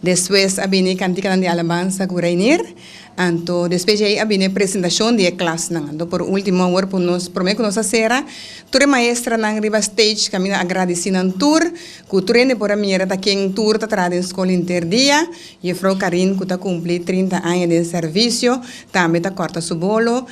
Despues a bini e kantikanan di alabansa ku Reinier, anto despues di ei a bini e presentashon di e klasnan. Anto por último awor por nos, promé ku nos a sera, tur e maestranan riba stage kaminda a gradisí nan tur, ku tur hende por a mira ta ken tur ta traha den skol henter dia. Yefrou Karin ku ta kumplí trinta aña den sèrvisio tambe ta kòrta su bolo,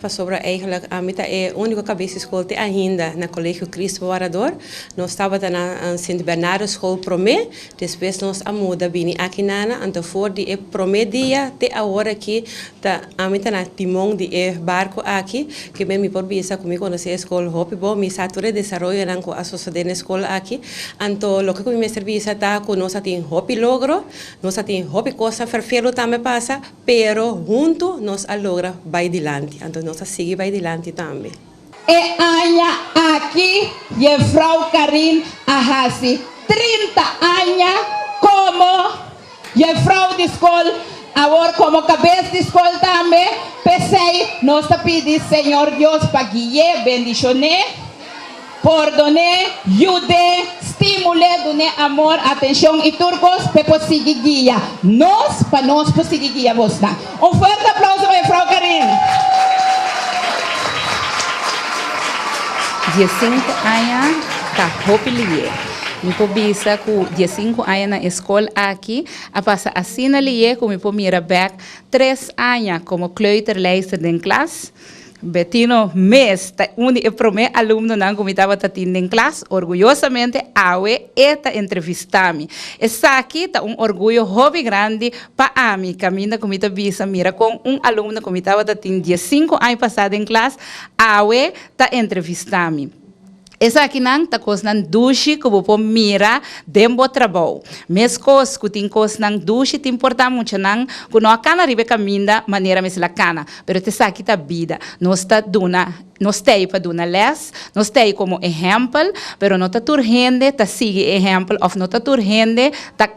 Pasobra eigenlijk ami ta e úniko kabes skol te ainda na Kolegio Kristu pa Warador. Nos tabata na Sint Bernardo Skol promé, despues nos a muda bini aki nana, anto for di e promé dia te awor aki ta ami ta na timon di e barko aki. Kimen mi por bisa ku mi konosé e skol hopi bo, mi sa tur e desaroyonan ku a sosodé na e skol aki. Anto loke ku mi mester bisa ta ku nos a tin hopi logro, nos a tin hopi kosnan ferfelu tambe pasa, Pero huntu nos a logra bai dilanti, anto nos a sigui bai dilanti tambe. E aña aki Yevrou Karin a hasi trinta aña komo Yevrou di Skol, awor komo Kabes di Skol tambe. P'esei nos ta pidi Señor Dios pa gui'é, bendishoné. Pòrdoné, yud'é, stímul'é, dun'é amor, atenshon i tur kos pa e por sigui guia nos, pa nos por sigui guia bosnan. Un fuerte aplauso pa Mefrou Karin. Diesinku aña ta hopi lihé. Mi por bisa ku diesinku aña na e skol aki a pasa asina lihé ku mi por mira bèk tres aña komo kleuterlijster den klas. Betino mes ta un di e promé alumnonan ku mi tabata tin den klas. Orguyosamente awe e ta entrevistá mi. Esaki ta un orguyo hopi grandi pa ami kaminda ku mi ta bisa mira kon un alumno ku mi tabata tin diesinku aña pasá den klas awe ta entrevistá mi. Esakinan ta kosnan dushi ku bo por mira den bo trabou. Meskos ku tin kosnan dushi tin por ta muchanan ku no a kana riba e kaminda manera mester a kana. Pero esaki ta bida. Nos ta duna, nos t'ei pa duna lès, nos t'ei komo ehèmpel, pero no ta tur hende ta sigui e ehèmpel òf no ta tur hende ta.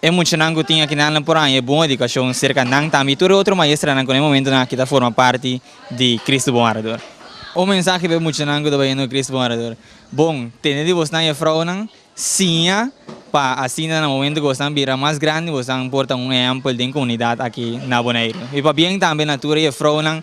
E muchanan ku tin akinanla por haña e bon edukashon serka nan tambe i tur e otro maestranan ku na e momentunan aki ta forma parti di Kristu Bon Harador. Un mensahe pa e muchanan ku ta bañando Kristu Bon Harador, Bon, tende di bosnan e frounan siña pa asinta na momentu ku bosnan bira mas grandi bosnan por ta un ehèmpel den komunidat aki na Boneiru. I pabien tambe na tur e frounan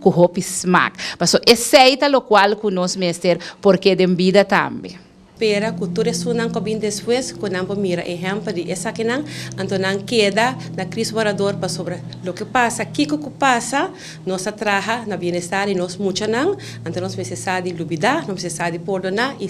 cu hopi smaak. Paso esey ta locual cu nos mester por ke den bida tambe. Pera cu tur esunnan cu a bin despues cu nan por mira ehempel di esakinan, anto nan keda na Kris Warador pasobra loke pasa, kico cu pasa, nos ta traha na bienestar di nos muchanan, anto nos mester sa di lubida, nos mester sa di pordona y.